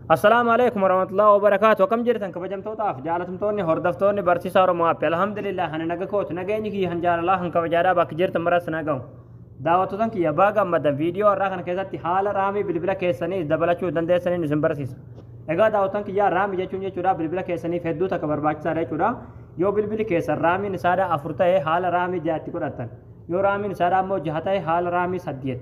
Assalaamu alaikum warahmatullahi wabarakatuh. Akkam jirtan kabajamtootaaf jaalatamtoonni hordoftoonni barsiisaa Oromoo App. Alhamdulillah ani naga kootu nageenyi kiyya kan jaalalaa kan kabajaadhaa bakka jirtan maras na gahu. Daawwattotan kiyya baga gammaddan viidiyoo har'aa kana keessatti haala raamii bilbila keessanii dabalachuu dandeessaniin isin barsiisa. Egaa daawwattotan kiyyaa raamii jechuun jechuudha bilbila keessaniif hedduu takka barbaachisaadha jechuudha. Yoo bilbili keessan raamiin isaadhaa afur ta'e haala raamii ja'atti godhattan. Yoo raamiin isaadhaa immoo jaha ta'e haala raamii saddeet.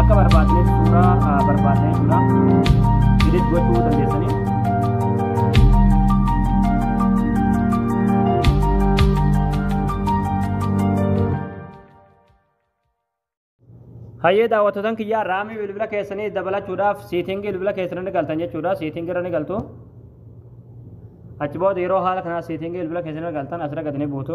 Akka barbaadneef suuraa ah, barbaadna jechuudha. Edit gochuu dandeessanii. Hayyee daawwattotan kiyyaa raamii bilbila keessanii dabalachuudhaaf siitingii bilbila keessanii ni galtan jechuudha. Siitingii irra ni galtu. Achi booda yeroo haala kanaa siitingii bilbila keessanii irra galtan asirra gadi ni buutu.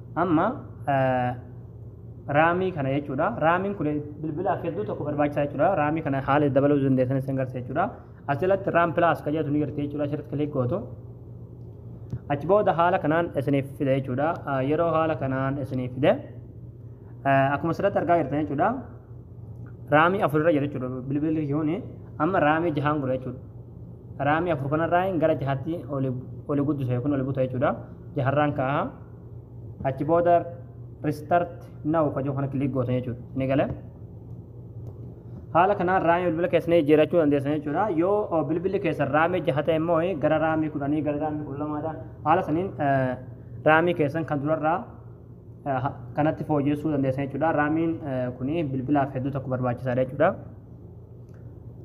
Amma raamii kana jechuudha. Raamiin kun bilbilaaf hedduu tokko barbaachisaa jechuudha. Raamii kana haala itti dabaluu dandeessan isin garsiisa jechuudha. Asirratti raam pilaas kan jedhu ni jirti jechuudha. Asirratti kiliik gootu. Achi booda haala kanaan isiniif fida jechuudha. Yeroo haala kanaan isiniif fide akkuma asirratti argaa jirtan jechuudha. Raamii afur irra jira jechuudha. Bilbilli kuni amma raamii jahaan godha jechuudha. Raamii afur kanarraa gara jahaatti oli guddisa yookiin oli buta jechuudha. Jaharraan kaa'a. achi booda restart now kan jiru kana kilik gootan jechuudha ni gale haala kanaan raamii bilbila keessanii jijjiirachuu dandeessan jechuudha yoo bilbilli keessan raamii jaha ta'e immoo gara raamii kudhanii gara raamii kudha lamaadha haala saniin raamii keessan kan durarraa kanatti fooyyessuu dandeessan jechuudha raamiin kuni bilbilaaf hedduu tokko barbaachisaadha jechuudha.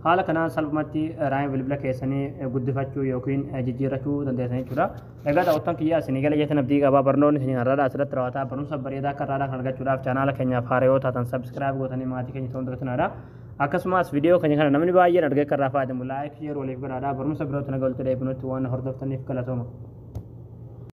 Haala kanaan salphumatti raayima bilbila keessanii guddifachuu yookiin jijjiirrachuu dandeessan jechuudha. Egaa daawwattoon kiyyaa isinii gala jetan abdii qabaa barnoonni isinii har'aadha asirratti raawwataa barumsa bareedaa akka har'aadhaa kan argachuudhaaf chaanaala keenyaaf haaraa yoo taatan sabskiraayib gootanii maatii keenya ta'uun dagatinaa akkasumas viidiyoo keenya kana namni baay'een argee kan irraa fayyadamu laayik sheer waliif godhaadhaa barumsa birootti nagaa walitti deebinutti waan hordoftaniif galatooma.